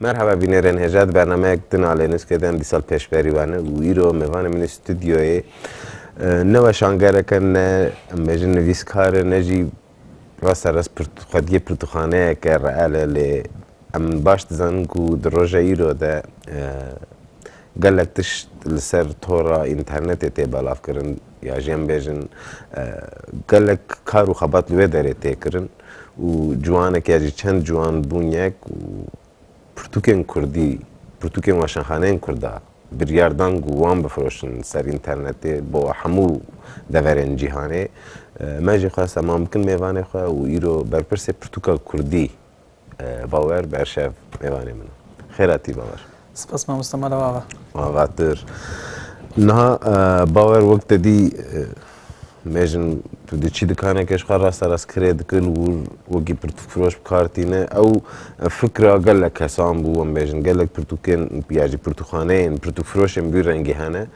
Merhaba bînêrên hêja di bernameyek din a Lênûskê de em dîsal pêşberî we ne û îro mêvanê min ê studyoyê ne weşangerek e ne em bêjin nivîskar e ne jî rasta rast pirtû xwediyê pirtûxaneyek e reel e lê em baş dizanin ku di roja îro de gelek tişt li ser tora înternetê tê belavkirin. Ya jî em bêjin gelek kar û xebat li wê derê tê kirin û ciwanek ya jî çend ciwan bûn yek û pirtûkên kurdî, pirtûkên weşanxaneyên kurda biryar dan ku wan bifiroşin ser înternetê bo hemû deverên cîhanê. Me jî xwest heman bikin mêvanê xwe û îro berpirsê pirtûka kurdî Bawer Berşev mêvanê min e. Xêr hatî Bawer. Spas mamoste mala wava. Avatir. Niha Bawer wek te dî mejin tu dê çî dikaneke ji xwe rasta rast kirê dikir û wekî pirtûkfiroş bi kar tîne. Ew fikra gelek kesan bû em bêjin gelek pirtûkên ya jî pirtûkxaneyên pirtûkfiroşên bi wî rengî hene.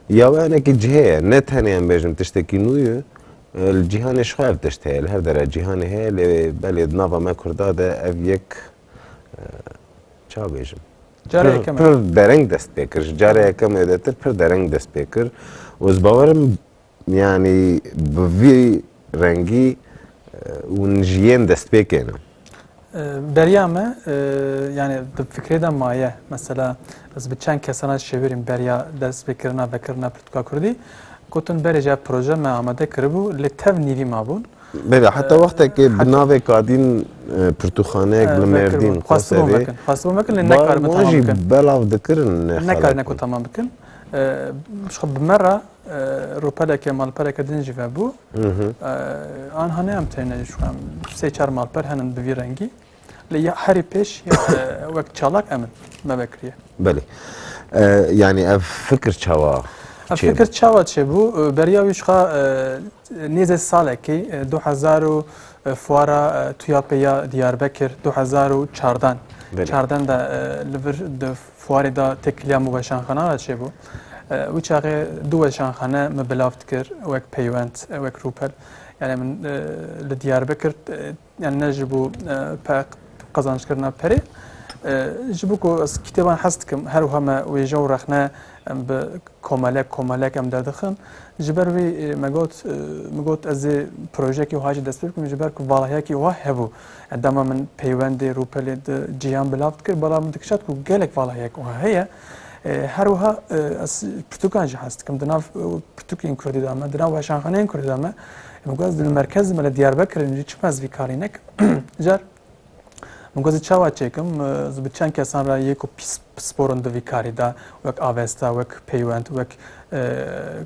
Ya we hinekî cihê ye ne tenê em bêjin tiştekî nû ye. Li cîhanê jixwe ev tişt heye, li her dere cîhanê heye lê belê di nava me kurda de ev yek ça bêjim pir dereng dest pê kir. Ji care yeke me de tir pir dereng dest pê kir û ez bawerim yanî bi vî rengî hûn ji yên dest pê kêne. Beriya me yanê di fikrê de maye. Mesela ez bi çend kesan re şêwirîm beriya destpêkirina vekirina pirtûka kurdî. Gotin berê ji hev proje me amade kiribû lê tev nîvî mabûn. Beriya heta wextekê bi navê Kadîn pirtûxaneyek li Mêrdîn xwestibûn vekin. Xwestibûn vekin lê nekaribûn tamam bikin. Wan jî belav dikirin nexelek bûn. Nekarine ku tamam bikin. Ji xwe bi me re ropeleke malpereke din jî vebû. Anha ne em têne jî em sê çar malper henin bi vî rengî. Lê ya herî pêş wek çalak em in me vekiriye. Belê. Yani ev fikir çawa Ev fikir çawa çêbû beriya wî jixwe Nêzî salekî du hezar û fuara TUYAP'ê ya Diyarbekir du hezar û çardan çardan de li vir di fuarê de têkiliya min weşanxana re çêbû. Wî çaxê du weşanxane min bilav dikir wek peywend, wek rûpel. Yani min li Diyarbekir Yan ne ji bo qezanckirina perê. Ji bo ku ez kîtêban hez dikim her wiha me wêje û rexne em bi komelek komelek em derdixin. Ji ber wî me got min got ez ê projeyekî wiha jî dest pê bikim ji ber ku valahiyekî wiha hebû. Yani dema min peywendê rûpelê di cîhan belav dikir bala min dikişand ku gelek valahiyek wiha heye. Her wiha ez pirtûkan jî hez dikim di nav pirtûkên kurdî de me, di nav weşanxaneyên kurdî de me. Min got ez li merkezê me li Diyarbekirê ne jî çima ez vî karî nekim. Car min got ez çawa çêkim ez bi çend kesan re yê ku pisporin di vî karî de wek avesta, wek peywend, wek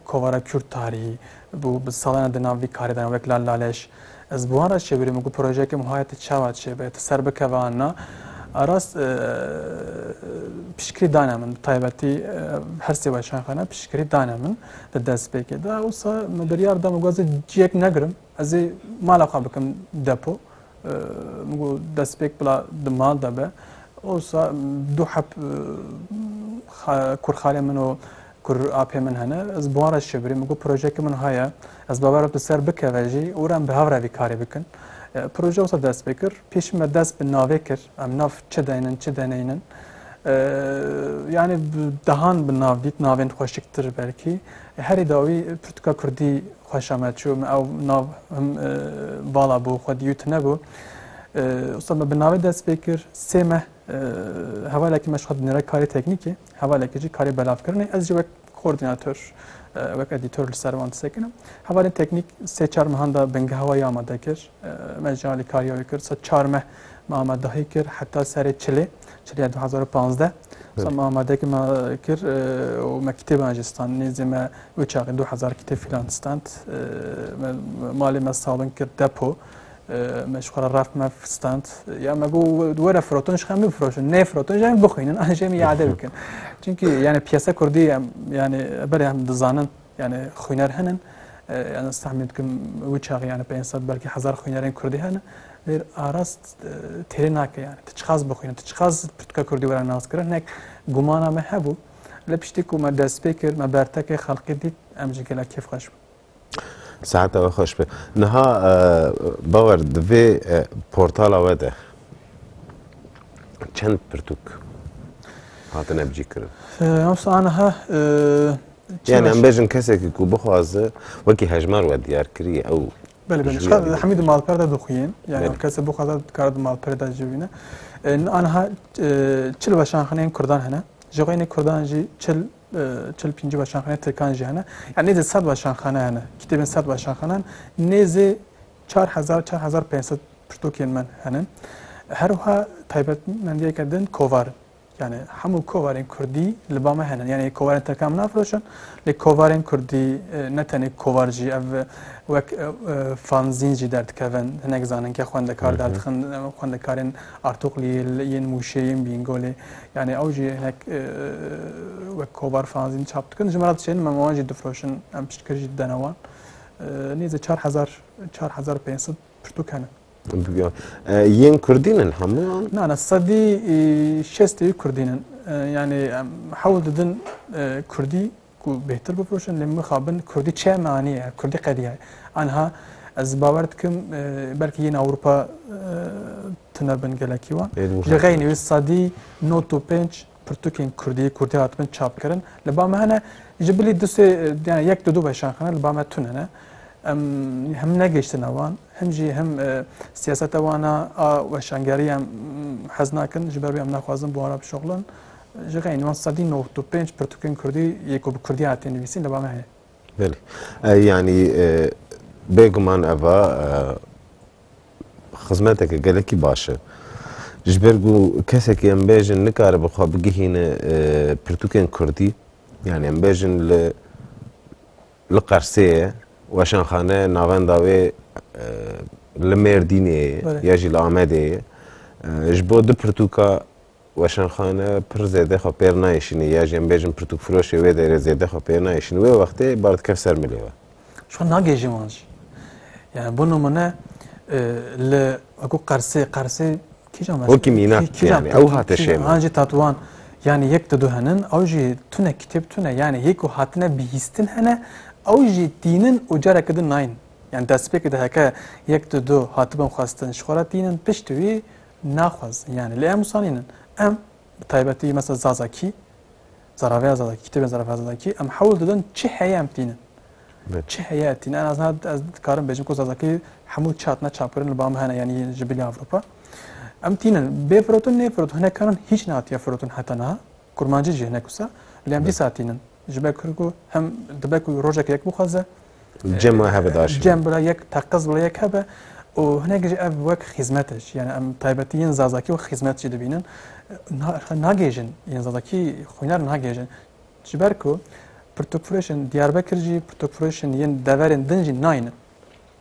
kovara Kurd tarîhî bû bi salan di nav vî karî de wek Lal Laleş. Ez bi wan re çêbirî min got projeyeke min wayê tu çawa çêbe, tu ser bikeve an na. Rast piştgirî dane min bi taybetî her sê weşanxane piştgirî dane min. di destpêkê de wisa me biryar da min got ez ciyek negirim ez ê mala xwe bikim depo min got destpêk bila di mal de be wisa du heb kurxalê min û kur apê min hene ez bi wan re şibirî min got projeyeke min heye ez bawer bi ser bikeve jî û re em bi hev re vî karê bikin proje wisa dest pê kir pêşî me dest bi navê kir Em nav çi deynin, çi deneynin. Yanî dehan bi nav dît, navên xweşiktir belkî. Herî dawî pirtûka kurdî xweşa me çû. Me ew nav him vala bû, xwe dîyû tunebû. Usta me bi navê dest pê kir, sê meh hevalekî me ji xwe dinêre karê teknîkê, hevalekî jî karê belavkirinê. Ez jî wek Koordînator, wek edîtor li ser wan disekinim. Hevalên teknîk sê çar mehan de bingeha wayî amade kir. Me ji alî kariya wê kir. Sed çar meh me amadehî kir heta serê çilê, çilya du hezar û pazdeh. Sa me amadekî me kir û me kitêban jî stand. Nêzî me wê çaxê du hezar kitêb fîlan stand. Me malê me sabin kir depo. Me ji xwe re reft mev stand. Ya me got were firotin ji xwe bifroşin. Nê firotin ji em bixwînin an ji em îade bikin. Çunkî yani piyese kurdî em yani berê em dizanin yani xwîner hinin. Yani tahmin dikim wî çaxê yani 500 belkî hezar xwînerên kurdî hene. Lêr arast têrê nake yani. Tu çiqas bixwînin, tu çiqas pirtûka kurdî were nas kirin. Hinek gumana me hebû. Lê piştî ku me dest pê kir, me bertekê xelqî dît em ji gelek kêfxweş bûn. Seheta we xweş be. Niha bawer di vê portala we de çend pirtûk hatine bicîkirin? Yavsa aniha Yani em bêjin kesekî ku bixwaze wekî hejmar we diyar kiriye ew Belê belê. Şka hemî di malper de dixuyên. Yani kese bixwaze dikare di malperê de jî bîne. Aniha çil weşanxineyên kurdan hene. Ji xwe yên kurdan jî çil Çil û pêncî weşanxaneyê Tirkan jî hene. Yanî nêzî sed weşanxane hene. Kitêbên sed weşanxane hene. Nêzî çar hezar, çar hezar pênc sed pirtûkên min hene. Her wiha taybetmendiyeke din kovar in. Yanî hemû kovarên kurdî li ba me hene. Yanî kovarên tirkan min nafiroşin. Lê kovarên kurdî ne tenê kovar jî ev wek fanzîn jî derdikevin. Hinek zanînkê xwendekar derdixin. Xwendekarên Artuxliyê, yên Mûşê, yên Bîngolê Yanî ew jî hinek wek kovar fanzîn çap dikin, ji me re diçênin, me wan jî difiroşin, em piştgir jî didene wan. Nêzî çar hezar, çar hezar pênc sed pirtûk hene. Bigyan. Yên Kurdîn in hemûyan? Na na sedî şestê Kurdîn in. Yanî hewl didin Kurdî Ku bêhtir bifiroşin lê mixabin kurdî çi ye me anîye kurdî qediya ye. Anha ez bawer dikim belkî yên Ewropa tune bin gelekî wan. Li xeynî wê sedî not û pênc pirtûkên kurdî kurdî hatibin çapkirin li ba me hene ji bilî du sê yani yek du du weşan xine li ba me tune ne. Em him negihiştine wan him jî him siyaseta wana a weşangerî em hez nakin ji ber wê em naxwazin bi wan re bişoxlin. Ji xeyên wan sedî newt û pênc pirtûkên kurdî yê ku bi kurdî hatiye nivîsîn li ba me heye. Belê. Yanî bêguman ev a xizmeteke gelekî baş e. Ji ber ku kesekî em bêjin nikaribe xwe bigihîne pirtûkên kurdî yanî em bêjin li li Qersê ye, weşanxane navenda wê li Mêrdînê ye ya jî li Amedê ye. Ji bo du pirtûka Weşanxane pir zêde xwe pêr nayêşîne ya jî em bêjin pirtûkfiroşê wê derê zêde xwe pêr nayêşîne wê wextê bar dikeve ser milê we. Ji xwe nagihêjin wan jî. Yani bo nimune li wekû Qersê, Qersê kîjan mes? Wekî mînak tê yani ew hate şême. Wan jî tatuan yani yek di du henin ew jî tune kitêb tune yani yê ku hatine bihîstin hene ew jî tînin û careke din nayîn. Yani destpêkê de heke yek di du hatibin xwestin ji xwe re tînin piştî wî naxwazin yanî lê em wisa nînin. Em bi taybetî mesela Zazakî, Zaraveya Zazakî, kitêbên Zaraveya Zazakî em hewl didin çi heye em tînin. Çi heye tînin en azna ez dikarim bêjim ku Zazakî hemû çi hatine çapkirin li ba min hene yanî ji bilî Ewropa. Em tînin bê firotin nê firotin hinekaran hîç nehatiye firotin heta niha. Kurmancî jî hinek wisa lê em dîsa tînin. Ji ber kir ku em dibe ku rojek yek bixwaze cem e hebe daşin. Cem bila yek teqez bila yek hebe û hinek jî ev wek xîzmet e jî. Yani em taybetî yên Zazakî wek xîzmet jî dibînin. Nagêjin yên Zazakî xwînar nagêjin. Ji ber ku pirtûkfirêşên Diyarbekir jî pirtûkfirêşên yên deverên din jî nayînin.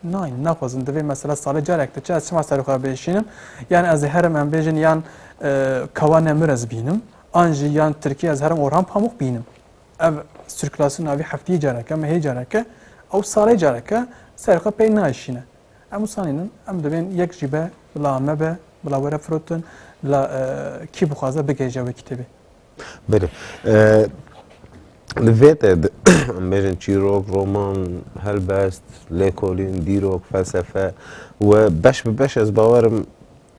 Nein, naxwazim divê mesela salê carek diçe ez çima serê xwe bêşînim. Yan ez ê herim em bêjin yan e, kawa nemir ez bînim an jî yan Tirkî ez herim Orhan Pamuk bînim. Ev sirkülasyon avî heftiyê careke me hê careke ew salê careke serê xwe pey nayşîne. Em usanînin em divên yek jî be bila me be bila were firotin bila e, kî bixwaze bigihêje wê kitêbê. Belê. Li vê te de em bêjin çîrok, roman, helbest, lêkolîn, dîrok, felsefe we beş bi beş ez bawerim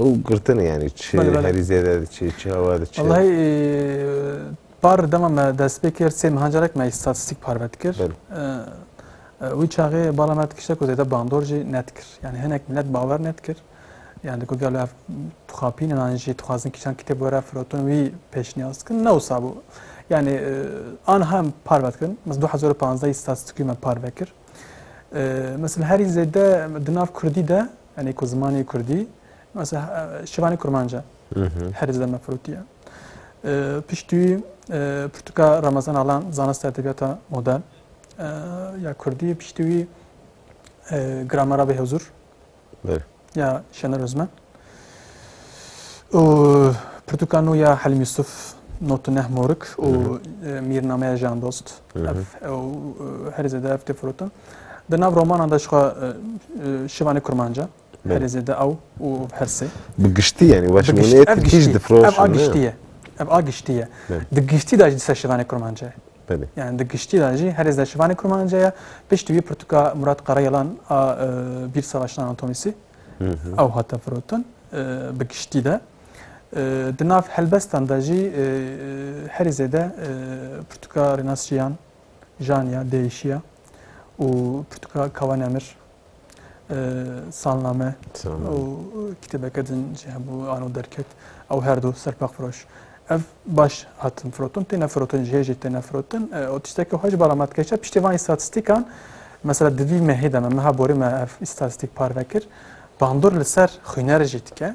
û girtine yanî çi herî zêde di çi çi hewa di çi. Wellahî par dema me dest pê kir sê mehan carek me îstatîstîk parve dikir. Wî çaxê bala me dikişte ku zêde bandor jî nedikir. Yanî hinek milet bawer nedikir. Yan di gogê ev dixapînin an jî dixwazin kîjan kitêb were firotin wî pêşniyaz dikin ne wisa bû. Yani an hem parve dikin. Mesela 2015 statistîkî me parve kir. Mesela herî zêde di nav Kurdî de yani ku zimanê Kurdî mesela şivanê Kurmanca herî zêde me firotiye. Piştî Pirtuka Ramazan Alan zanist edebiyata modern ya Kurdî piştî wî gramera bê huzur Bêr. Ya Şener Özmen. Û pirtûka nû ya Helîm Yusuf not û neh morik û mîrnameya Jan Dost. Ev herî zêde ev tê firota. Di nav romanan de jixwe şivanê kurmanca herî zêde ew û hersê. Bi giştî yanî weş hûnê tij difroşin. Ev a giştî ye. Ev a giştî ye. Di giştî de jî di ser şivanê kurmanca ye. Belê. Yani di giştî de jî herêz de şivanê kurmance ye. Piştî wî pirtûka Murat Karayelan a Bîr Savaşan Anatomisî ew hate firotin bi giştî de. Di nav helbestan de jî herî zêde pirtûka Rênas Jiyan, Janya, Değişiya û pirtûka Kawan Emir Salname û kitêbeke din jî hebû ano derket ew her du serpaqfiroş. Ev baş hatin firotin têne firotin ji hê jî têne firotin û tiştekî xwe ji bala me dikeşe piştî van îstatîstîkan mesela di vî mehê de me meha borî me ev îstatîstîk parve kir bandor li ser xwîner jî dike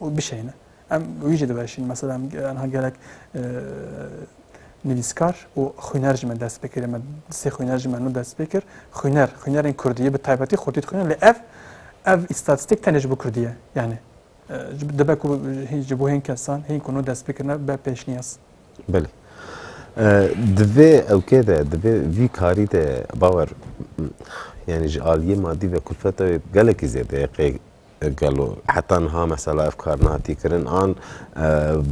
û bişeyne. Em wî jî diweşînin. Mesela em anha gelek nivîskar û xwîner ji me dest pê kir. Me sê xwîner ji me nû dest pê kir. Xwîner, xwînerên Kurdî bi taybetî xurtî dixwînin lê ev ev îstatîstîk tenê ji bo Kurdî ye. Yanî dibe ku ji bo hên kesan hên ku nû dest pê kirine be pêşniyaz. Belê. Di vê ewkê de di vê vî karî de bawer yanî ji aliyê madî ve kulfeta wê gelekî zêde ye qê Gelo heta niha mesela ev kar nehatiye kirin an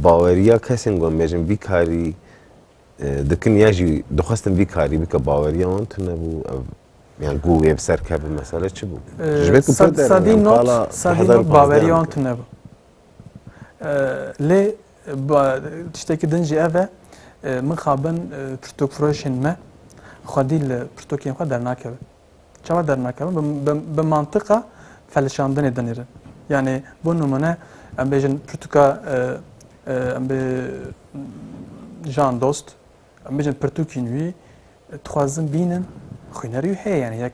baweriya kesên ku em bêjin vî karî dikin ya jî dixwestin vî karî bike baweriya wan tune bû ev yani ku wê bi ser kevin mesele çi bû? Ji vê ku pir der Sedî yani not pala sedî hezar û not baweriya panzdeh wan dikin. tune bû. Lê ba- tiştekî din jî ev e min xabin pirtûkfiroşên me xwedî li pirtûkên xwe dernakevin. Çawa dernakevin? Bi, bi, bi mantiqa felişandinê dinêrin. Yanê bo nimune em bêjin pirtûka e, e, em bê jan dost, em bêjin pirtûkîn wî dixwazin bînin xwînerî wî heye yanê yek,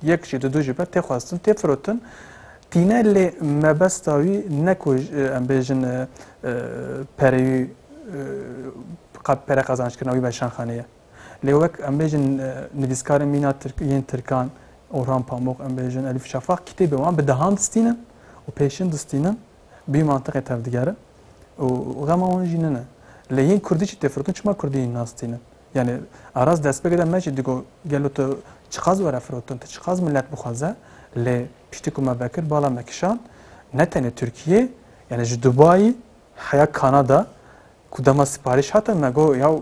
yek jî di du jî be tê xwestin tê firotin tîne lê mebesta wî ne ku em bêjin pereyî qad pere qazançkirina wî be şanxaneye. Lê wek em bêjin nivîskarên mîna yên tirkan Orhan Pamuk, em bêjin Elîf Şafak kitêbên wan bi dehan distînin û pêşin distînin bi wî mantiqê tevdigerin û xema wan jî nine. Lê yên kurdî jî têfirkin çima kurdî hîn nastînin? Yanî aras destpêkê de me jî digo gelo tu çiqas were firotin, tu çiqas milet bixwaze lê piştî ku me vekir bala me kişand ne tenê Tirkiyeyê yanî ji Dubayî heya Kanada Ku dema siparîş hate me got yaw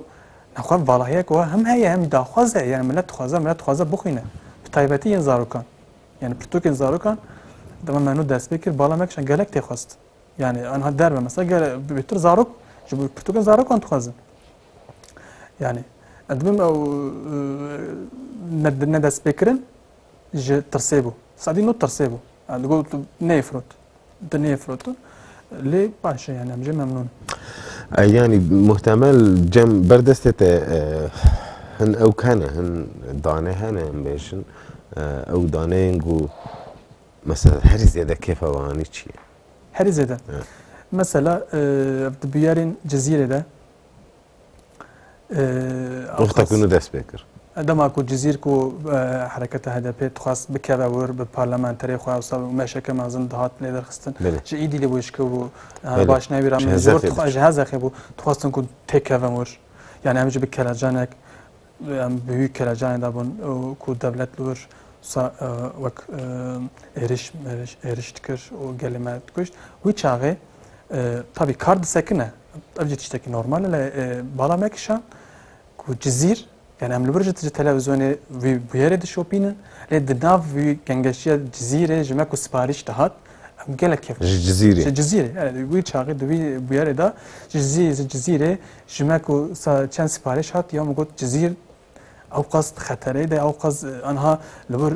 nexwe valahiyek wa him heye him daxwaz e yanî milet dixwaze milet dixwaze bixwîne bi taybetî yên zarokan yanî pirtûkên zarokan dema me nû dest pê kir bala me kişand gelek tê xwest yanî anha derve mesela gele bêtir zarok ji bo pirtûkên zarokan dixwazin yanî ez dibim ew ne dest pê kirin ji tirsê bû sadî nû tirsê bû yani got neyê firot Tu nêfirotin. Lê baş e yani em jê memnûn. Yani muhtemel cem berdestê te e, hin ew kene hin dane hene em bêjin e, ew daneyên ku mesela herî zêde kêfa we anî çi ye? Herî zêde. Mesela e, ev di bûyerên cizîrê de Rixta ku nu dest pê kir. Dema ku Cizîr ku hereketa HDP'ê dixwest bikeve wir bi parlamenterê xwe wisa û meşeke mezin dihat lêderxistin ji êdî lê wêjikir bû her baş nayê wî ra min ji hezexê bû dixwestin ku têkevin wir yanî em jî bi kelecanek Em bi wî kelecanê de bûn ku dewlet li wir wek êriş mêriş êriş dikir û gelê me dikuşt. Wî çaxê tavî kar disekine ev jî tiştekî normal e lê bala me kişan ku Cizîr yani em li wir ji ji televizyonê wî bûyerê dişopînin lê di nav wî gengeşiya Cizîrê ji me ku siparîş dihat em gelek kêfxweş ji Cizîrê ji Cizîrê wî çaxê di wî bûyerê de ji Cizîrê Ji me ku çend siparîş hat ya min got Cizîr ewqas di xeterê de ewqas anha li wir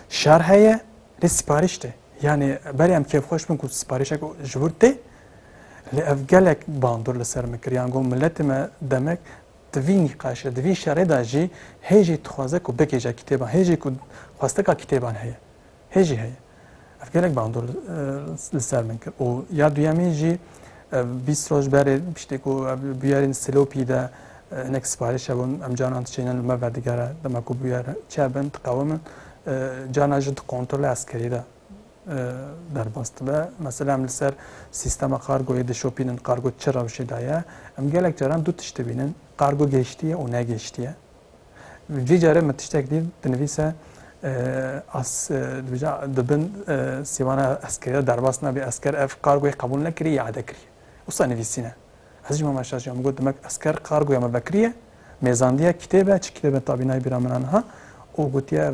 şer heye lê siparîş tê. Yanê berê em kêfxweş bin ku siparîşek ji wir tê lê ev gelek bandur li ser min kir yan got miletê me demek di vî nîqaşê di vî şerê de jî hê jî dixwaze ku bigihêje kîtêban hê jî ku xwesteka kîtêban heye. Hê jî heye. Ev gelek bandor li ser min kir û ya duyemîn jî bîst roj berê piştî ku bûyerên Silopî de hinek siparîş hebûn em canan diçênin li me ve digere dema ku bûyer çêbin diqewimin cana jî di kontrola eskerî de derbas dibe. Mesela em li ser sîstema kargoyê dişopînin kargo çi rewşê de ye. Em gelek caran du tişt dibînin, kargo gehiştiye û negehiştiye. Cî care min tiştek dît dinivîse ez dibêjim di bin sîwana eskerî de derbas nabî esker ev kargoyê qebûl nekirî îade kirî wisa nivîsîne. Ez jî Mama Şaş ya min got demek esker kargoya min vekirîye mêzandîye kitêbe çi kitêbe tabî nayê bîra min a niha û gotiye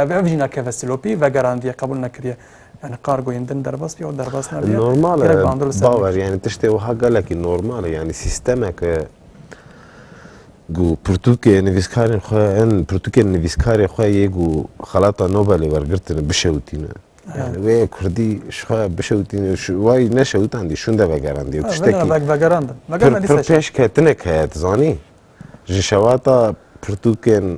ev ev jî nakeve silopî vegerandîye qebûl nekirîye yanî kargoyên din derbas bîye û derbas nabîye. Normal e bawer yanî tiştê wiha gelekî normal e yanî sîstemeke Ku pirtûkê nivîskarên xwe in, pirtûkên nivîskarê xwe yê ku xelata Nobelê wergirtine bişewitîne. Yani wê Kurdî ji xwe bişewitîne, wayî neşewitandî, şûnde vegerandî. Tiştekî pir pir pêşketinek heye, dizanî? Ji şewata pirtûkên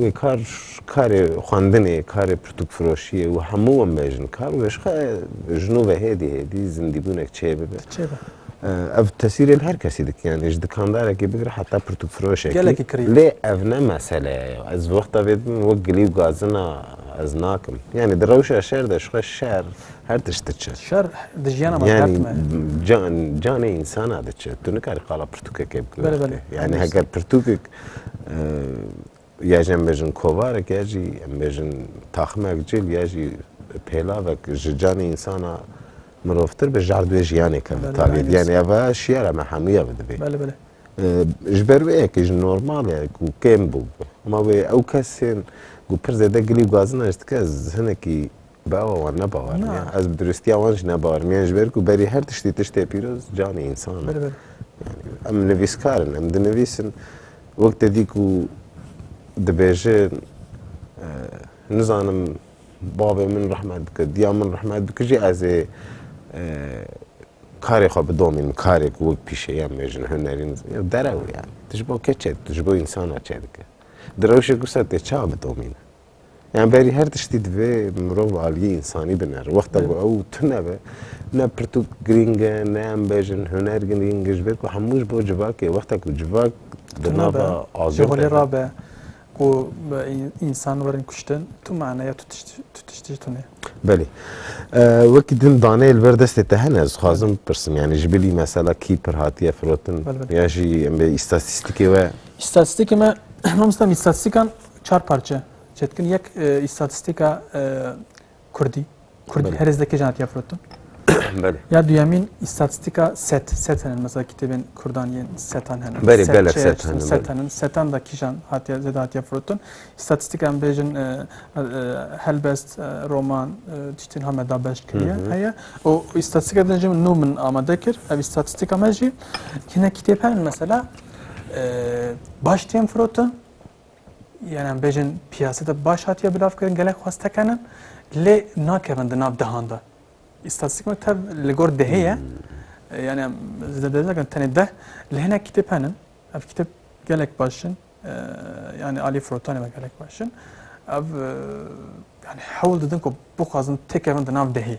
Wê kar karê xwendinê ye, karê pirtûkfiroşî ye û hemû wan bejin kar û ji xwe ji nû ve hêdî hêdî zindîbûnek çê bibe. Ev tesîrê li her kesî dike yanî ji dikandarekî bigire heta pirtûkfiroşekî. Lê ev ne mesele ye ya. Ez wexta vê dibim wek gilî û gazina ez nakim. Yanî di rewşa şer de ji xwe şer her tişt diçe. Şer di jiyana me dert me. Yanî canê însana diçe. Tu nikarî qala pirtûkekê bikî wextê. Yanî heger pirtûkek ya jî em bêjin kovarek ya jî em bêjin taximek cil ya jî pêlavek ji canê însana mirovtir bi jar duê jiyanêke bi tavî yani ev şiyara me hemûya bi dibê ji ber wê yekê ji normal e ku kêm bû ma wê ew kesên ku pir zêde gilî û gazina ji dike ez hinekî Bawer wan ne bawer Na. niya. Ez bi duristiya wan jî ne bawer niya ji ber ku berî her tiştî tiştê pîroz canê însan e. Bele bele. Em nivîskar in, em dinivîsin. Wek te dî ku dibêjin eh, nizanim bavê min rehmet bike, diya min rehmet bike jî ez ê eh, karê xwe bidomînim, karê ku wek pîşeya me jin hunerî niz- ya derew yani. Tu ji bo ke çê, tu ji bo însana çê dike. Di rewşê ku ser tê ça bidomîne. Yani berî her tiştî divê mirov aliyê însanî bine. Wexta ku ew tune be, ne pirtûk girîng e, ne em bêjin huner girîng e ji ber ku hemû ji bo civak e. Wexta ku civak di nava azad holê ra be ku însan werin kuştin, tu maneya tu tiştî ji tune. Belê. Wekî din daneyê li ber destê te hene ez dixwazim bipirsim. Yani ji bilî mesela kî pir hatiye firotin ya jî em bê îstatîstikê we. Îstatîstikê me, mamosta îstatîstikan Çar parçe çetkin yek îstatîstîka Kurdî. Kurdî herêz de kêjan hatiye firotin? Belê. Ya duyemîn îstatîstîka set. Set henin mesela kitêbên Kurdan yên setan henin. Belê gelek set henin. Set henin. Setan da kîjan hatiye zêde hatiye firotin. İstatistika em bêjin helbest roman tiştên hame da beş kiriye heye. O îstatîstika din jî min nû min amade kir. Ev îstatîstika me jî hinek kitêb henin mesela baş tên firotin. Yan em bêjin piyaseta baş hatiye bilavkirin gelek xwest tekenin lê nakevin di nav dehan de. İstatistik me tev li gor dehê ye. Yani em zedede nakin tenê deh li hinek kitêb henin. Ev kitêb gelek başin. Yani alî firotanê me gelek başin. Ev yani hewl didin ku bixwazin têkevin di nav dehê.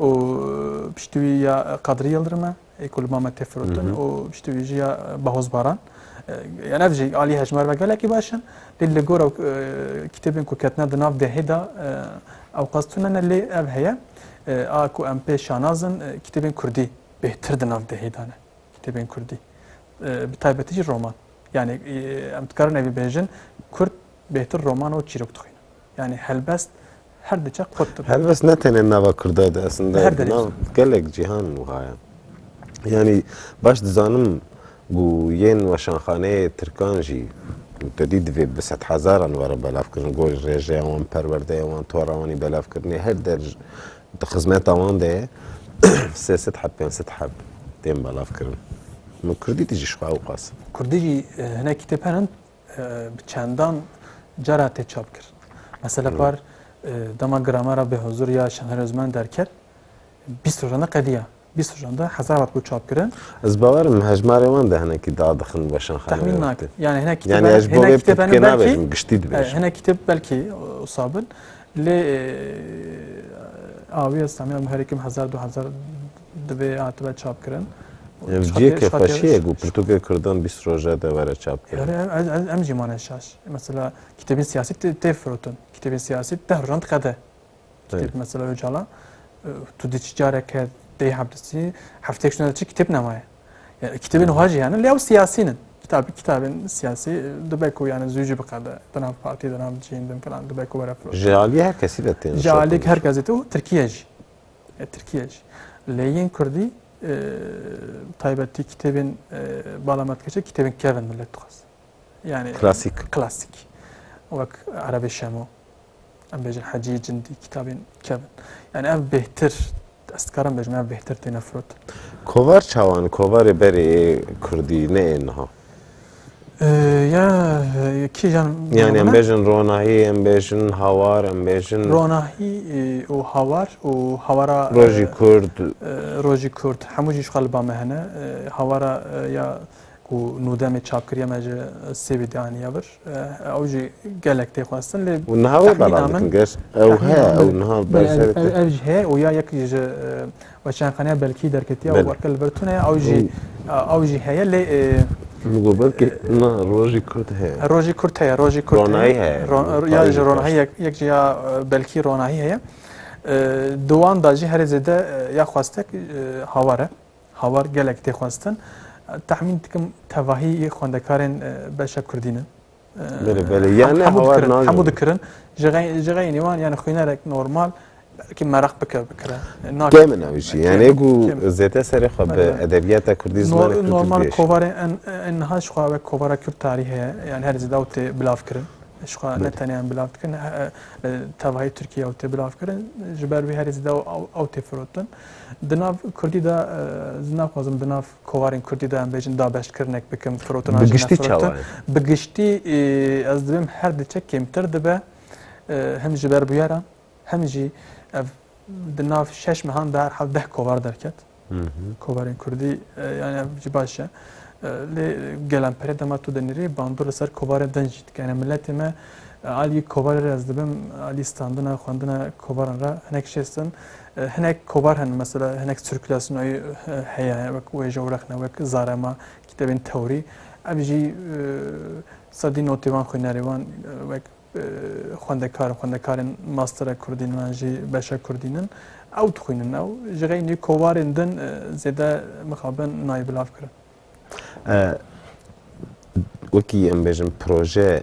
û piştî wî ya Qadrî Yildirim e ê ku li Mamed tê firotin û piştî wî jî ya Bahoz Baran. Yan ev jî alî hejmar ve gelekî baş in. Lê li gora kitêbên ku ketine di nav dehê de ew qas tune ne lê ev heye. A ku em pê şanaz in kitêbên Kurdî bêhtir di nav dehê de ne. Kitêbên Kurdî. Bi taybetî jî roman. Yani em dikarin ev bêjin Kurd bêhtir roman û çîrok dixwînin. Yani helbest her diçe qut dibin. Helbest ne tenê nava Kurda de esinde nav gelek cîhan wiha ye. Yanî baş dizanim ku yên weşanxaneyê Tirkan jî tedî divê bi sedhezaran were belavkirin. Gor rêjeya wan, perwerdeya wan, tora wan ê belavkirinê her der di xizmeta wan de ye. Sê sed heb, pênc sed heb tên belavkirin. Min Kurdî de jî jixwe ewqas. Kurdî jî hinek kitêb herin bi çendan car hate çap kir. Mesela par dema gramera bi huzur ya Şener Özmen derket, bîst rojan de qediya. Bîst rojan de hezar vat ku çap kirin. Ez bawerim hejmarê wan de hinekî da dixin weşanxaneyê. Tahmîn nakim. Yani hinek kitêb yani ez bo vê pitkê nabêjim, giştî dibêjim. Hinek kitêb belkî usabin. Lê awiya İslamiya muherikim hezar du hezar Divê hatibe çapkirin. Ev ciyê ke xweşiyek bû, pirtûkê Kurdan bîst roje de were çapkirin. Em jî mane şaş. Mesela kitêbên siyasî tê firotin. Kitêbên siyasî deh rojan diqede. Kitêb mesela Ocalan tu dê çi careke tê hepdisî hefteyek şûna de çi kitêb nemaye. Yani kitêbên wiha jî hene lê ew siyasî nin. Kitab kitabên siyasî dibe ku yani zû jî biqede. Di nav partî, di nav cihên din filan dibe ku were firotin. Ji aliyê her kesî de tên. Ji aliyê her kesî tê û Tirkiye jî. Tirkiye jî. Lê yên kurdî bi taybetî kitêbên bala me dikeçe kitêbên kev in milet dixwest. Yani klasik. Klasik. Wek Erebê Şemo. Em bêjin Hecî Cindî kitabên kev in. Yani ev bêhtir ez dikarim bêjim ev bêhtir têne firotin. Kovar çawan, kovarê berê ê kurdî ne ê niha. Ya kîjan Yani em bêjin ronahî, em bêjin hawar, em bêjin ronahî û hawar û hawara rojî kurd rojî kurd hemû jî ji xwe li ba me hene hawara ya ku nû demê çap kiriye me ji sêvê dê aniye vir ew jî gelek tê xwestin lê niha wê belamin ew he ew niha ev ji he û ya yek ji Weşanxaneya Belkî derketiye û barka li ber tune ye. Ew jî ew jî heye lê Min got belkî na rojî kurd heye. Rojî kurd heye, rojî kurd heye. Ronahî heye. Ron ya ji ronahî yek yek jî ya belkî ronahî heye. Di wan da jî herê zêde ya xwestek hawar e. Hawar gelek tê xwestin. Tahmîn dikim tevahî xwendekarên beşa kurdî ne. hemû dikirin ji xeynî wan yani xwînerek normal ki meraq bike bikire min ew jî yanê ku zêde serê xwe bi edebiyata kurdî zimanê kurdî normal kovarê niha ji xwe ew kovara kurd tarîh heye yani her zêde ew tê bilav kirin ji xwe ne tenê em bilav dikin li tevahî Tirkiyê ew tê bilav kirin ji ber wî herî zêde ew tê firotin di nav kurdî de naxwazim di nav kovarên kurdî de em bêjin dabeştkirinek bikim, firotina jî ne firotin. Bi giştî ez dibim her diçe kêmtir dibe him ji ber bûyeran him jî ev di nav şeş mehan de herhal deh kovar derket. Kovarên kurdî yani ev jî baş e. Lê gelan perê dema tu dinirî bandor li ser kovarên din jî dike. Yani milletê me alî kovarê re ez dibim alî standina xwendina kovaran re hinek şêstin Hinek kovar hene mesela hinek sirkülasyonayî heye wek wêje û rexne wek zarema kîtebên tewrî. Ev jî sedî notê wan xwînerê wan wek xwendekar û xwendekarên mastera kurdî ne yan jî beşa kurdî ne ew dixwînin ew ji xeynî kovarên din zêde mixabin nayê bilavkirin. Wekî em bêjin proje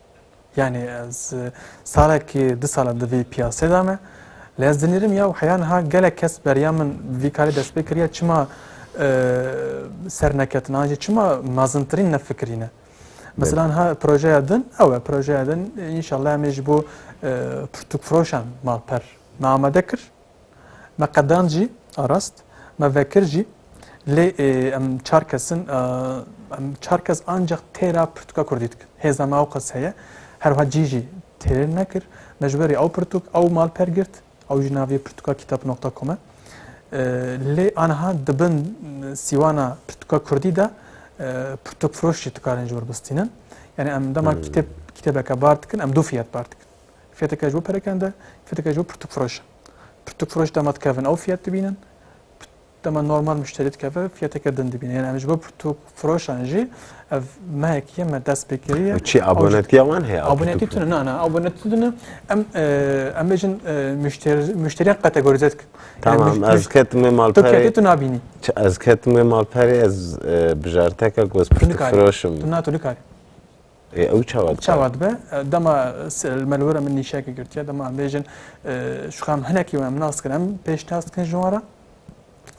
Yanî ez salekî du sal e di vî piyasê de me. Lê ez dinêrim ya wiha ya niha gelek kes beriya min bi vî karê dest pê kiriye çima serneketin an jî çima mezintirîn nefikirîne. Mesela niha projeya din ew e projeya din înşallah em ê ji bo pirtûkfiroşan malper me amade kir. Me qedand jî arast, me vekir jî lê em çar kes in. Em çar kes ancak têra pirtûka kurdî dikin. Hêza me ewqas heye. Her wiha cî jî têr nekir. Me ji berî ew pirtûk, ew malper girt. Ew jî navê pirtûka kitap nokta com e. Lê aniha di bin sîwana pirtûka kurdî de pirtûkfiroş jî dikarin ji wir bistînin. Yanî em dema kitêb kitêbeke bar dikin, em du fiyat bar dikin. Fiyeteke ji bo perekirin de, fiyeteke ji bo pirtûkfiroş e. Pirtûkfiroş dema dikevin ew fiyet dibînin, dema normal muşterî dikeve fiyeteke din dibîne. Yani em ji bo pirtûkfiroşan jî ev mehekî ye me destpêkirî ye. Çi abonetiya wan heye? Abonetî tune na na abonetî tune em em bêjin muşteriyan kategorîze dikin. Tamam ez ketime malperê. Tu ketî tu nabînî. Ez ketime malperê ez bijarteke goz pirtûkfiroşim. Tu na tu nikarî. Ê ew çawa dibe? Çawa dibe? Dema li me li were min nîşekê girtiye, dema em bêjin şixam e, hinekî em nas dikin, em pêşnas dikin ji wan re.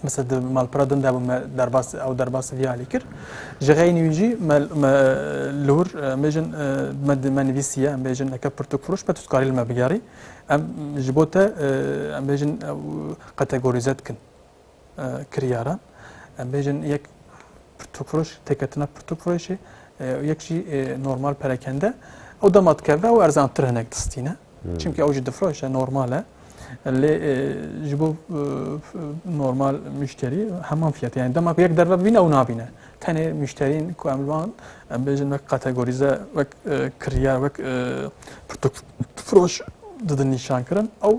Mesela di malpera din de bû me derbas ew derbasî vî alî kir. Ji xeynî wî jî me me li hûr em bêjin me di me nivîsiye em bêjin neke pirtûk firoş me tu dikarî li me bigerî. Em ji bo te em bêjin kategorîze dikin. kiryaran em bêjin yek pirtûkfiroş têketina pirtûkfiroşê û yek jî normal perekende ew dema dikeve ew erzantir hinek distîne çimkî ew jî difiroşe normal e lê ji bo normal müşterî heman fiyatê yani dema ku yek derve bîne ew nabîne tenê müşterîn ku em li wan em bêjin wek kategorîze wek kiryar wek pirtûkfiroş didin nîşankirin ew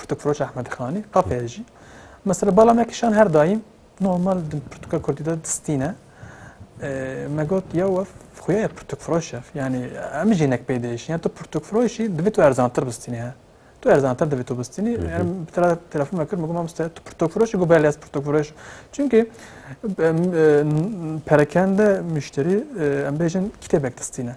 Kutuproç Ahmed Xanî, qapeye jî. Mesela bala me kişan her daîm normal di pirtûka kurdî de distîne. Me got ya wef xuya ye pirtûkfiroş ev. Yanî em jî hinek pê diêşin. Ya tu pirtûkfiroşî divê tu erzantir bistînî he. Tu erzantir divê tu bistînî. Yani bir tane telefon me kir, me got mamoste tu pirtûkfiroşî got belê ez pirtûkfiroş. Çünkü perakende müşterî em bêjin kitêbek distîne.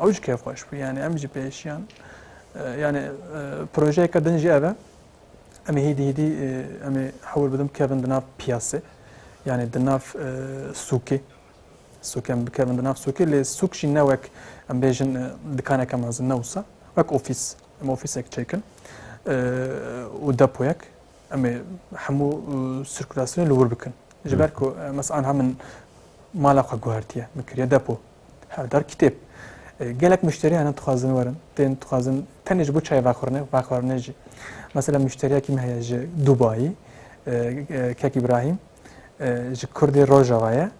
Ew jî kêfxweş bû yanî em jî pêşiyan yanî projeyeke din jî ev e em ê hîdî hîdî em ê hewil bidim bikevin di nav piyasê yanî di nav sûkê sûkê em bikevin di nav sûkê lê sûk jî ne wek em bêjin dikaneke mezin ne wisa wek ofîs em ofîsek çêkin û depoyek em ê hemû sirkulasyonê li wir bikin ji ber ku mes anha min mala xwe guhertiye min kiriye depo Hevdar kitêb. Gelek muşterî hene dixwazin werin, tên dixwazin tenê ji bo çayê vexwirine, vexwarine jî. Mesela muşteriyekî me heye ji Dubayî, Kek Îbrahîm, ji Kurdê Rojava ye.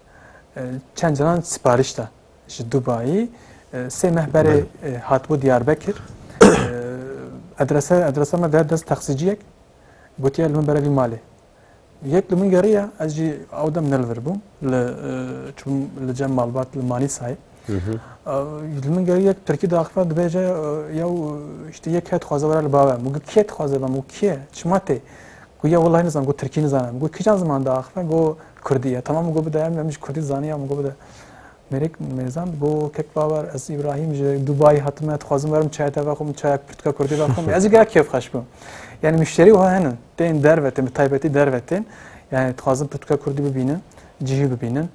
Çend caran siparîş da ji Dubayî. Sê meh berê hatibû Diyarbekir. Adrese adresa me de dest taksiciyek gotiye li min bere vî malê. Yek li min geriya ez jî ew dem ne li vir bûm li çûm li cem malbat li Manîsayê. Li min geriya yek Tirkî daxifan dibêje yew işte yek het xwaze were li bave min got kê dixwaze bam û kê çima tê ku ya wellahî nizan got Tirkî nizanim got kîjan ziman daxifan got Kurdî ye tamam got bide em em jî Kurdî zanîyam got bide Merek Mêrzan, Bo kek bawer ez Îbrahîm ji Dubayê hatime, dixwazim werim çayê te vexwim, çayek pirtûka kurdî vexwim, ez jî gelek kêfxweş bûm. Yanî muşterî wiha hene tên dervete, bi taybetî dervetên. Yanî dixwazin pirtûka kurdî bibînin, cihî bibînin.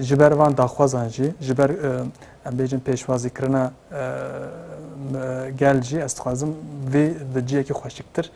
Ji ber van daxwazan jî, ji ber em bêjin pêşwazîkirina gel jî ez dixwazim vê di cihekî xweşiktir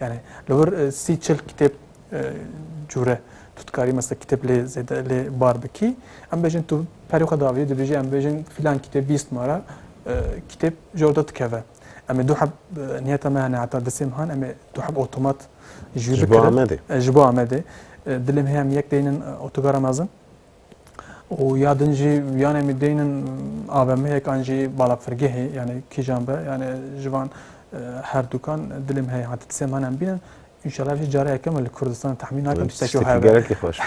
Yanî li wir sî çil kitêb cûre tu dikarî mesela kitêb lê zêde lê bar bikî. Em bêjin tu perê xwe davî dibêjî em bêjin fîlan kitêb bîst ma re kitêb ji orda dikeve. Em ê du heb niyeta me hene heta disê han em ê du heb otomat jû bikirin. Ji bo Amedê. Dilê me heye em yek deynin otogara mezin. û ya din jî yan em ê deynin AVM'yek an jî balafirgehê yanê kîjan be yanê ji van herdûkan dilê min heye ha ti tisê min em bînin Înşallah jî cara yeke min li Kurdistan tahmîn nakim tiştekî wiha be. Gerekî xweş.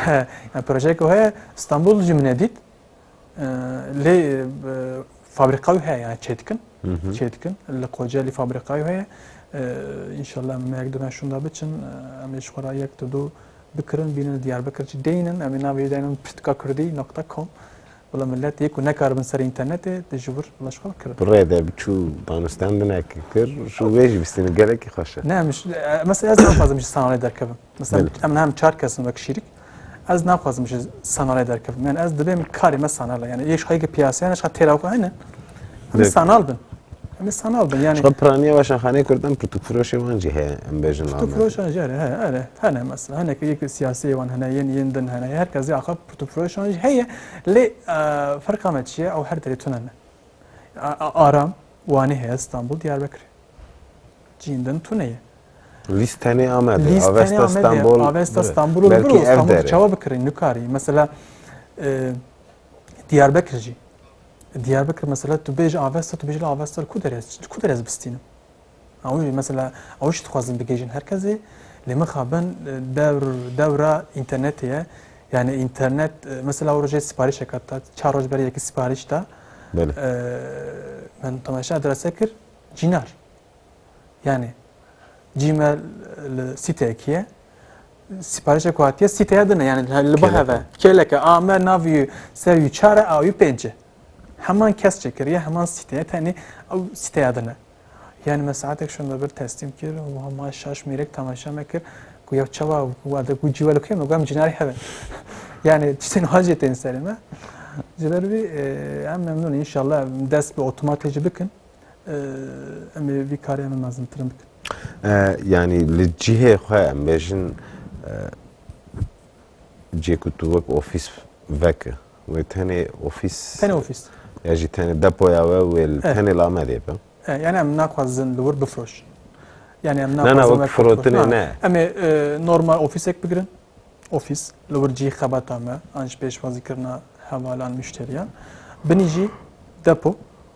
Yani projeyeke heye İstanbul jî min dît. Lê fabrika wî heye yani çê dikin. Çê dikin. Li Kocaeli fabrika wî heye. İnşallah me yek duna şunda biçin. Em ê ji xwe re yek tu du Bi kirin bînin li Diyarbekir jî dê înin. Em ê navê jî dayînin pirtika kurdî nokta kom. Bila milet yê ku nekaribin serê înternetê di ji wir bila ji xwe ve kirin. Bi rê de çû danûstan binekê kir û wê jî bistînin gelekî xweş e. Ne em ji mesela ez naxwazim ji sanalê derkevim. Mesela em niha em çar kes in wek şîrik. Ez naxwazim ji sanalê derkevim. Yanî ez dibêm karê me sanal e. Yanî yê ji xwe yê ke piyaseyane ji xwe têra xwe hene. Em ê sanal bin. Em ê sanal bin. Yani Şo piraniya weşanxaneyê Kurdan pirtûkfiroşê wan jî heye em bêjin Amedê. Pirtûkfiroşan jî hene, he, hene, hene mesela. Hinek yekî siyasiyê wan hene, yên yên din hene. Her kesê axa pirtûkfiroşan jî heye. Lê ferqa me çi ye? Ew her derê tune ne. Aram Wanê heye, Stenbol, Diyarbekirê. Cîn din tune ye. Lîst tenê Amedê. Lîst tenê Avesta Stenbol. Amedê, Avesta Stenbol û li Belkî vir û ev Stenbol derê. çawa bikirî nikariy. Mesela Diyarbekir jî Diyarbekir mesela tu bêj Avesta tu bêjî Avesta ku derez ku derez bistînim. Ew mesela ew şi dixwazin bigêjin her kesê lê min xabin dewr dewra internetê ye. Yani internet mesela ew rojê siparîşe kat da çar roj berê yekî siparîş da. Belê. Min temaşa adrese kir cînar. Yani cî me li sîteyekî ye sîparişek ku hatiye sîteya din e yani li biheve kêleke a me navî ser wî çar e awî pênc e heman kes çêkiriye heman sîteye tenê ew sîteya din e yani me saetek şonda bir teslîm kir û hema şaş mêrek temaşa me kir ku ya çawa wade ku cî welo kê me gam cinarî heve yani tiştên hacê tên serê me ji ber vî em memnûn inşallah dest bi otomatê jî bikin Em ê vî karê em ê mezimtirin bikin. Yanî li cihê xwe em bêjin cihê ku tu wek ofîs veke wê tenê ofîs tenê ofîs ya jî tenê depoya we wê tenê li Amedê be. Yani em naxwazin li wir bifrojin. Yani em naxwazin wek firotinê ne. Em ê normal ofîsek bigirin. Ofîs li wir cihê xebata me an ji pêşwazîkirina hevalan müşteriyan. Binî jî depo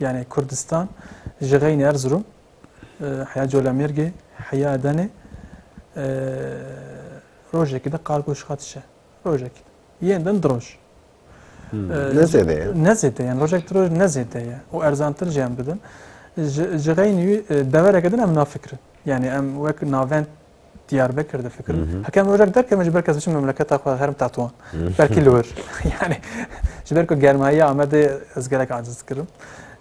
yanê Kurdistan ji Xeynê Erzurum, Heya Colemêrgê, Heya Edenê rojekî de qargoş xatişe. Rojekî de. Yên din di roj. Ne zêde ye. Ne zêde ye. Rojek di roj ne zêde ye. Û erzantir jî em didin. Ji Xeynî devereke din em nafikirin. Yani em wek navend Diyarbekir difikirim. Mhm. Heke em rojek derkevin ji ber kes biçin memleketa xwe herim Tetwan. Mhm. Belkî li wir. Yani ji ber ku germayiya Amedê ez gelek aciz dikirim.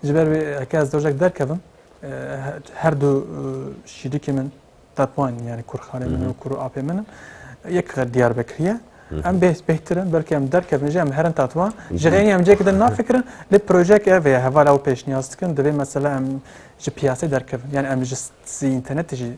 Ji ber wê heke ez rojek derkevim e, her du e, şîdikê min Tetwan yani kurxanê min û mhm. kur û apê min in. Yek Diyarbekiriye. Em bêh bêhtir in belkî em derkevin jî em herin Tetwan. Ji xênî em cêkê din nafikirin lê projeyek ev heye heval ew pêşniyaz dikin divê mesela em ji piyasê derkevin. Yani em ji sî internetê jî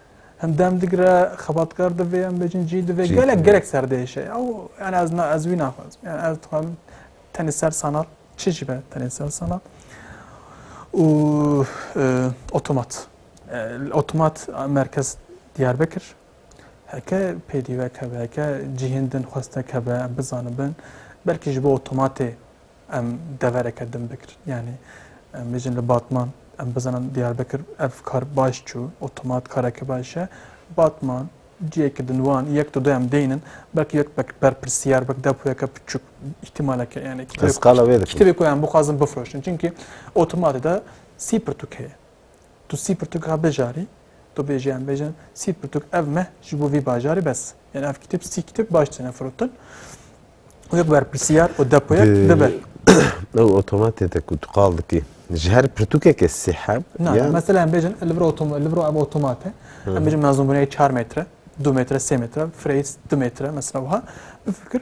Em dem digre xebatkar divê em bêjin cî divê gelek gelek serdêşe ya û yani ez na ez wî naxwazim yani ez dixwazim tenê ser sanat çi jî be tenê ser sanat û otomat otomat merkez Diyarbekir heke pêdîvek hebe heke cihên din xwestek hebe em bizanin bin belkî ji bo otomatê Em devereke din bikirin. Yanî em bêjin li Batman em bizanin Diyarbekir ev kar baş çû, otomat kareke baş e. Batman ciyekî din wan yek du du em deynin belkî yek berpirsiyar belkî depoyeke piçûk îhtîmaleke yanî kitêbê ku em bixwazin bifroşin. Çimkî otomatê de sî pirtûk heye. Tu sî pirtûk ra bijarî, tu bêjî em bêjin sî pirtûk ev meh ji bo vî bajarî bes. Yanî ev kitêb sî kitêb baş têne firotin. Û yek berpirsiyar û depoyek dibe. Ew otomatê te ku tu qal dikî ji her pirtûkeke sî heb. Na mesela em bêjin li vir otomat li vir ev otomate em bêjin mezûnbûneyê 4 metre, 2 metre, 3 metre, freys 2 metre mesela wiha bifikir.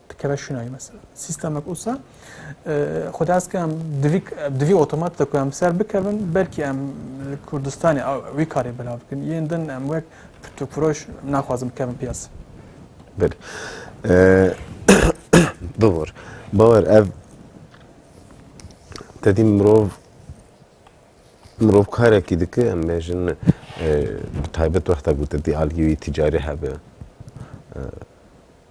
dikeve şinayî mesela. Sîstemek wisa xwe dest ke em divî divî otomat de ku em ser bikevin belkî em li Kurdistanê wî karê bila bikin. Yên din em wek pirtûkfiroş naxwazin bikevin piyase. Belê. Bibor. Bawer ev tedî mirov mirov karekî dike em bêjin bi taybet wexta ku te dî aliyê wî tîcarî hebe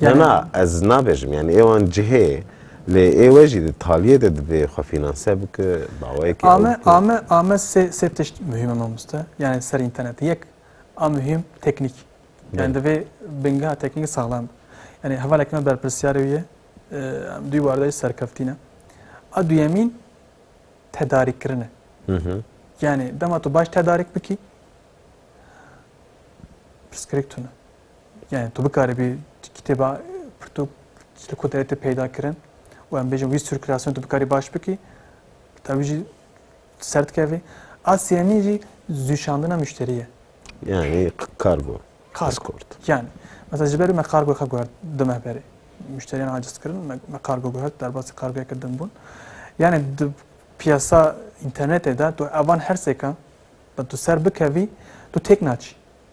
Na na ez nabêjim yani êwan cihê lê êwe jî di taliyê de divê xwe fînanse bike dawayekî ew Ame bike. ame ame sê sê tişt muhîm e mamoste yani ser înternetê yek a muhîm teknîk yani Belê. divê bingeha teknîkê saxlem be yani hevaleke me berpirsyarê wî ye em duyî warde jî serkeftî ne. A duyemîn tedarîkkirin e yani dema tu baş tedarik bikî pirsgirêk tune Yani tu bikaribî kitêba pirtûk li ku derê te peyda kirin û em bêjin wî sirkülasyon tu bikarî baş bikî ta wî jî ser dikevî. A sêyemîn jî zûşandina müşterî ye. Yani kargo. Kargo. Yani mesela ji ber me kargo xwe guhert du meh berê. Müşteriyan aciz kirin me kargo guhert derbasî kargoya ke din bûn. Yani di piyasa internetê de tu evan her sêkan tu ser bikevî tu têk naçî.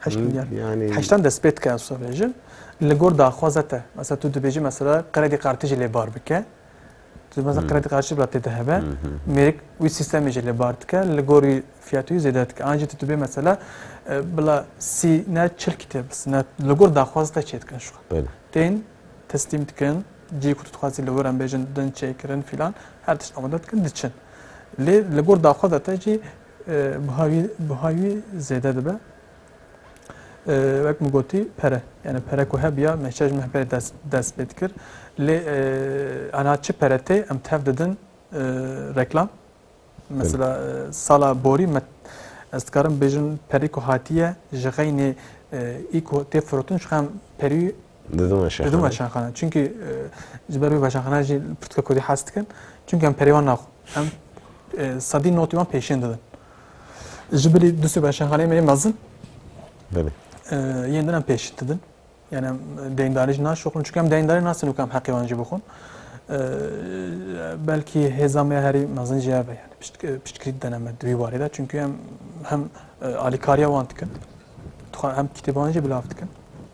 Heşt milyar. Yani heştan despê dike ez bêjim. Li gor daxwaza te. Mesela tu dibêjî mesela qredî qartî jî lê bar bike. Tu mesela qredî qartî bila tê de hebe. Mêrik wî sîstemê jî lê bar dike. Li gor wî fiyatê wî zêde dike. An jî tu dibê mesela bila sî ne çil kîtêb bisin. Ne li gor daxwaza te çê dikin şu. Tên teslîm dikin. Cî ku tu dixwazî li wir em bêjin din çêkirin filan her tişt amade dikin diçin. Lê li gor daxwaza te jî Buhayî wî zêde dibe. Wek min gotî pere. Yani pere ku hebiya mehça ji meh pere dest pê dikir. Lê aniha çi pere tê em tev didin reklam. Mesela sala borî me ez dikarim bêjim perî ku hatiye ji xeynê î ku tê firotin ji xeyn perî Didin weşanxane? Didin weşanxane. Çünkü e, ji ber wê weşanxane jî pirtika Kurdî hes dikin. Çünkü em perê wan naxwin. Em e, sedî notî wan pêşên didin. Ji bilî du sê weşanxaneyê me yê mezin Belê. e, yên din em pêşî didin. Yani em deyindarî jî naşoxin. Çünkü em deyindarî nasin û em heqê wan jî bixwin. E, belkî hêza me ya herî mezin jî ev e. Yani pişt- e, piştgirî didene me di wî warê de. Çünkü em hem e, alîkariya wan dikin. Dixwazin hem kitêban jî bilav dikin.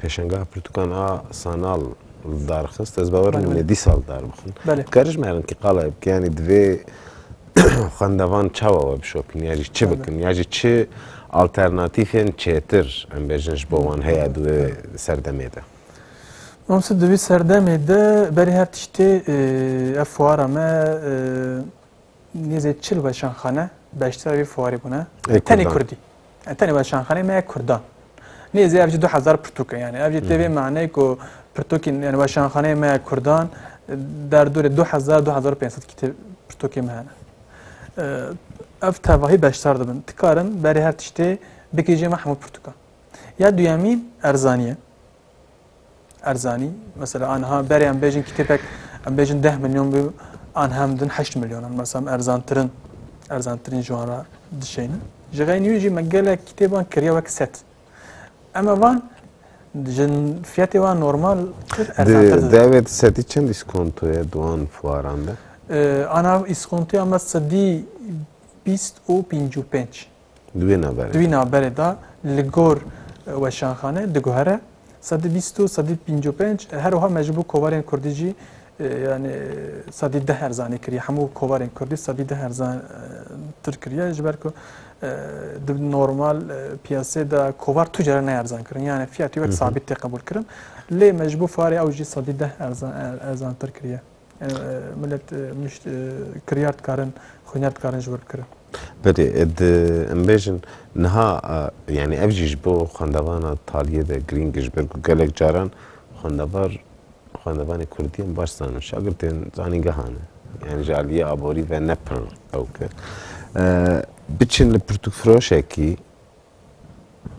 Pêşangeha pirtûkan a Sanal li dar xist. Ez bawer dikim lê dîsa li dar bixin. Dikarîjin me rinkî qaleyê bikim yanî divê xwendevan çawa we bişopîn ya jî çi bikin ya jî çi alternatîfên çêtir em bêjin ji bo wan heye di wê serdemê de. Mamose di wê serdemê de berî her tiştê ev fuara me Nêzî çil weşanxane beşdara vî fuarê bûne. Ê Tenê Kurdan. Kurdî. Yani tenê weşanxaneyê me ya Kurdan. Nêzî ev jî du hezar pirtûk e yani. Ev jî tê vê maneyê ku pirtûkên yani weşanxaneyê me ya Kurdan derdorê du hezar du hezar û pênc sed kîtêb pirtûkê me hene. Ee, Ev tevahî beşdar dibin. Tikarin berê her tiştê bikijê me hemû pirtûkan. Ya duyemîn erzanî ye. erzanî mesela anha berê em bêjin kitêpek em bêjin deh milyon bê anha em din heşt milyon in mesela em erzantirin erzantirîn ji wan re dişeynin ji xeynî wî jî me gelek kitêban kiriye wek set em e van jin fiyatê wan normal kir erzantir didin. Devêt sedî çend îskontoye di wan fuaran de? Ana îskontoya me sedî bîst û pêncî û pênc. Di wê naberê Di wî naberê de li gor weşanxane diguhere sedî bîst û sedî pênc û pênc her wiha me ji bo kovarên kurdî jî yanî sedî deh erzanî kiriye hemû kovarên kurdî sedî deh erzan tir kiriye ji ber ku di normal piyasê de kovar tu cere ne erzan kirin yanî fiyatî wek sabît tê qebûl kirin lê me ji bo farê ew jî sedî deh erzan tir kiriye. Milet mişt kiryar dikarin, xwîner dikarin ji wir bikirin. Belê, di em bêjin niha yanî ev jî ji bo xwendevana taliyê de girîng e ji ber ku gelek caran xwendevar xwendevanê kurdî em baş zanin şagirtên zanîngehan e yanî ji aliyê aborî ve ne pir ew ke biçin li pirtûkfiroşekî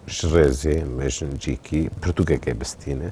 ji rêzê em bêjin cîkî pirtûkekê bistîne.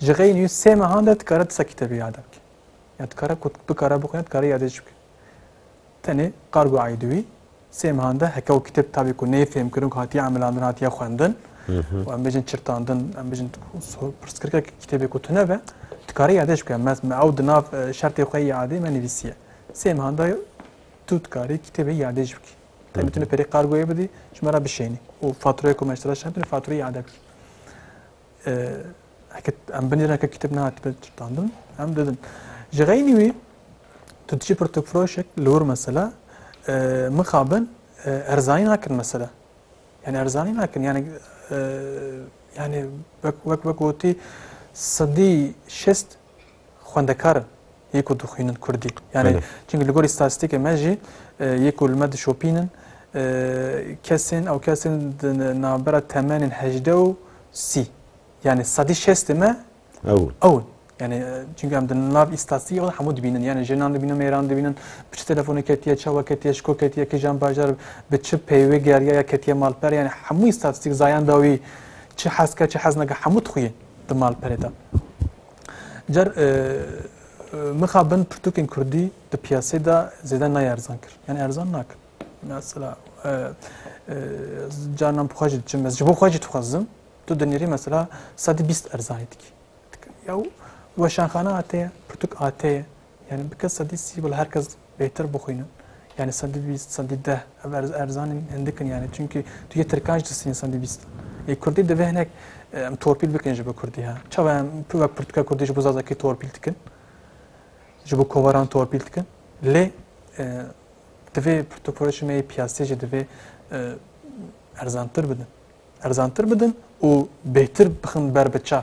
Ji xeyên yû sê mehan de dikare ti sekî tevî yade bike. Ya dikare ku bikare bixwîne dikare yadê jî bike. Tenê qargo eydî wî sê mehan de heke û kitêb tabî ku nê fêmkirin ku hatiye emilandin hatiye xwendin û em bêjin çirtandin em bêjin pirsgirkek kitêbê ku tune be dikare yadê jî bike. Me me ew di nav şertê xwe yê adê me nivîsiye. Sê mehan de tu dikarî kitêbê yadê jî bikî. Tenê tune perê qargoyê bidî ji me re bişênî û fatureyê ku me ji te re şand tune fatureyê yade bikî. Em binêrin heke kîteb nehatibin çitandin em didin. Ji xeynî wî tu diçî pirtûkfiroşek li wir mesela mixabin erzanî nakin mesela. Yani erzanî nakin yani yani wek wek wek gotî sedî şest xwendekar in yê ku dixwînin kurdî. Yanî çimkî li gorî statîstîkê me jî yê ku li me dişopînin kesên ew kesên di navbera temenên hejdeh û sî yanî sedî şestê me ew in. Ew in. Yanî çimkî em di nav îstatîstîkê xwe de hemû dibînin. Yanî jinan dibînin, mêran dibînin, bi çi telefonê ketiye, çawa ketiye, ji ku ketiye, kîjan bajar, bi çi peyvê geriya ya ketiye malper yanî hemû îstatîstîk zayan dawî çi hez ke, çi hez neke hemû dixwînin. di malperê de. Car mixa bin pirtûkên kurdî di piyasê de zêde nayê erzan kir. Yani erzan nakin. Mesela canan bixwe jî diçim ez ji bo xwe jî dixwazim tu dinêrî mesela sedî bîst erzanî dikî. Yaw weşanxana ateye, pirtûk ateye. Yanî bike sedî sî bila her kes bêtir bixwînin. Yanî sedî bîst, sedî deh ev erzanên hindik in yanî çimkî tu yê tirkan jî disînin sedî bîst. Lê kurdî divê hinek em torpîl bikin ji bo kurdî ha. Çawa em tu wek pirtûka kurdî ji bo zazakî torpîl dikin, ji bo kovaran torpîl dikin. Lê divê pirtûkpirtûkê me yê piyasî jî divê erzantir bidin. Erzantir bidin û bêtir bixin ber bi çav.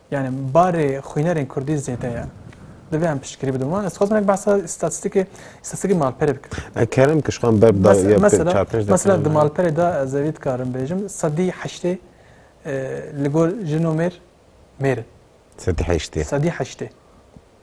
Yanî barê xwînerên kurdî zêde ye. Divê em piştgirî bidin wan. Ez dixwazim hinek behsa îstatîstîkê îstatîstîkê malperê bikim. E kerem kişkan berb da ya pê çar pênc de. Mesela di malperê de ez evî dikarim bêjim sedî heştê li gor jin û mêr mêr in. Sedî heştê. Sedî heştê.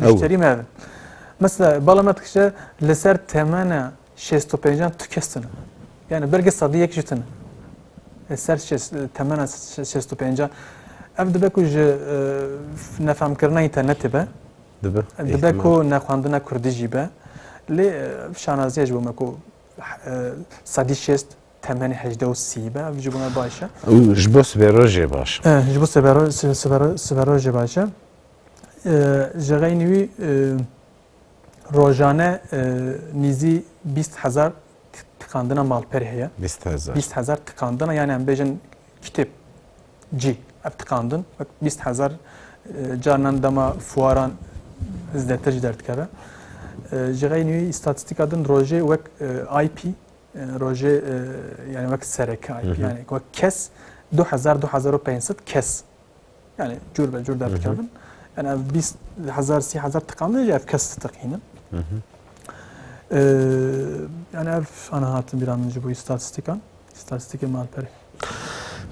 müşterî me bin. Mesela bala me dikişe li ser temena şêst û pêncan tu kes tune. Yani belkî sedî yek jî tune. Li ser temena şêst û pêncan ev dibe ku ji nefamkirina înternetê be dibe ku nexwendina kurdî jî be lê şanazî ye ji bo me ku sedî şêst temenê hejdeh û sî be ev jî bûna baş e. Û ji bo sibero jê baş e. Eh, ji bo sibero sibero sibero jê baş e. Ji xeynî wî rojane nîzî bîst hezar tikandina malperê heye. Bîst hezar. Bîst hezar tikandina yani em bêjin kitêb cî ev tikandin wek bîst hezar carinan dema fuaran zêdetir ji derdikeve. Ji xeynî wî îstatîstîka din rojê wek IP Rojê yani wek serekayî yani wek kes 2000-2500 kes yani cur be cur derdikevin yani ev 20 hezar sî hezar tiqan ev kes ditiqînin yani ev ana hatin bîra min ji bo îstatîstîkan îstatîstîkê malperê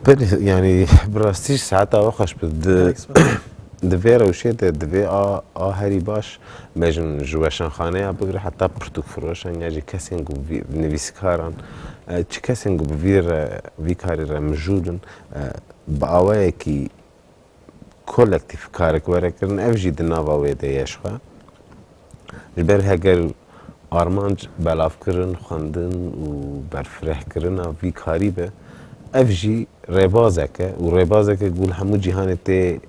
Belê yanî bi rastî jî saeta we xweş bi. Di di vê rewşê de di vê a a herî baş bejn ji weşanxaneya bigre heta pirtûkfiroşan ya jî kesên ku vî nivîsîkaran çi kesên ku bi vî re vî karî re mijûl in bi awayekî kolektîf karek were kirin ev jî di nava wê de ye jixwe. Ji ber heger armanc belavkirin, xwendin û berfirehkirina vî karî be ev jî rêbazek e û rêbazeke ku li hemû cîhanê tê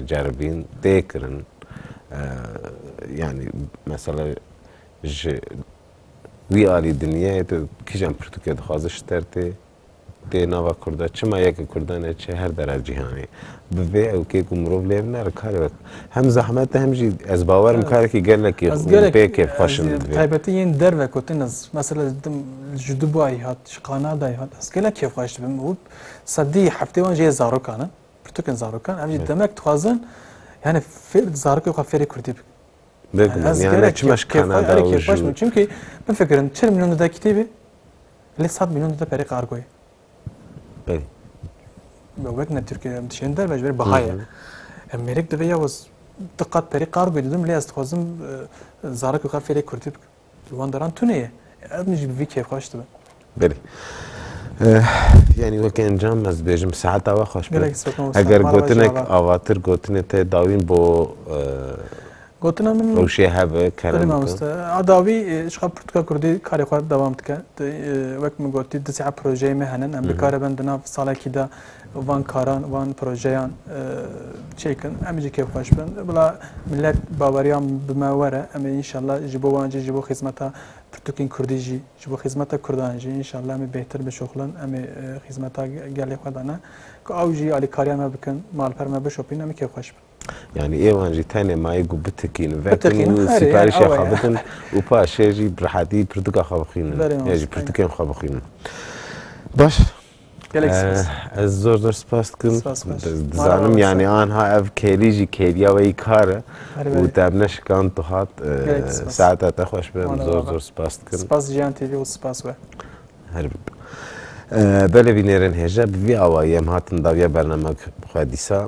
ceribîn, tê kirin. Yanî mesela ji wî alî dinyayê de kîjan pirtûkê dixwaze ji ter tê Dê nava Kurd de çima yekê Kurdan e çi her derev cîhanê bi vê ewkê ku mirov lê bine re karê wek hem zehmet e hem jî ez bawer im karekî gelekî Ez gelek pê kêfxweş in bi vê. taybetî yên derve ku tin ez mesela ji dim ji Dubayê hat ji Kanadayê hat ez gelek kêfxweş dibim û sedî heftê wan jê zarokan in pirtûkên zarokan em jî demek dixwazin yanê fêr zarokên xwe fêrî Kurdî bikin. Ez gerek kêf xweş bûm çimkî bifikirim çil mîlyon dide kitêbê lê sed mîlyon dide perê qargoyê. Belê. Wek ne Tirkiye em dişên derve ji ber biha ye. Em mêrik divê ya waz diqat perê qargoyê didim lê ez dixwazim zarokê xwe fêrê kurdî bikim. Li wan deran tune ye. Ev min jî bi vî kêf xweş dibe. Belê. Yanî weke encam ez dibêjim saeta we xweş be. Eger gotinek avatir gotinê te dawîn bo Gotina min rewşê hebe kerem. A dawî şixa pirtûka kurdî karê xwe dewam dike. Wek min gotî di sîa projeyê me henin em bikaribin di nav salekî de û van karan, van projeyan çêkin, em jî kêfxweş bin. Bila millet baweriya bi me were, em ê înşallah ji bo wan jî, ji bo xîzmeta pirtûkên Kurdî jî, ji bo xîzmeta Kurdan jî înşallah em ê bêhtir bişoxlin, em ê xîzmeta gelê xwe de ne. Ku ew jî alîkariya me bikin, malper me bişopîn, em ê kêfxweş bin. Yanî êwan jî tenê mayê ku bitikînin, vekin û sîparîşa xwe bidin û paşê jî bi rehatî pirtika xwe bixwînin ya jî pirtikên xwe bixwînin. Baş ez zor zor spas dikim. Dizanim yanî anha ev kêlî jî kêliya wê yî kar e û te ev neşikand tu hat saeta te xweş be em zor zor spas dikim. Spas Jiyan TV û spas we. Her bî. Belê bînêrên hêja bi vî awayî em hatin dawiya bername xwe dîsa.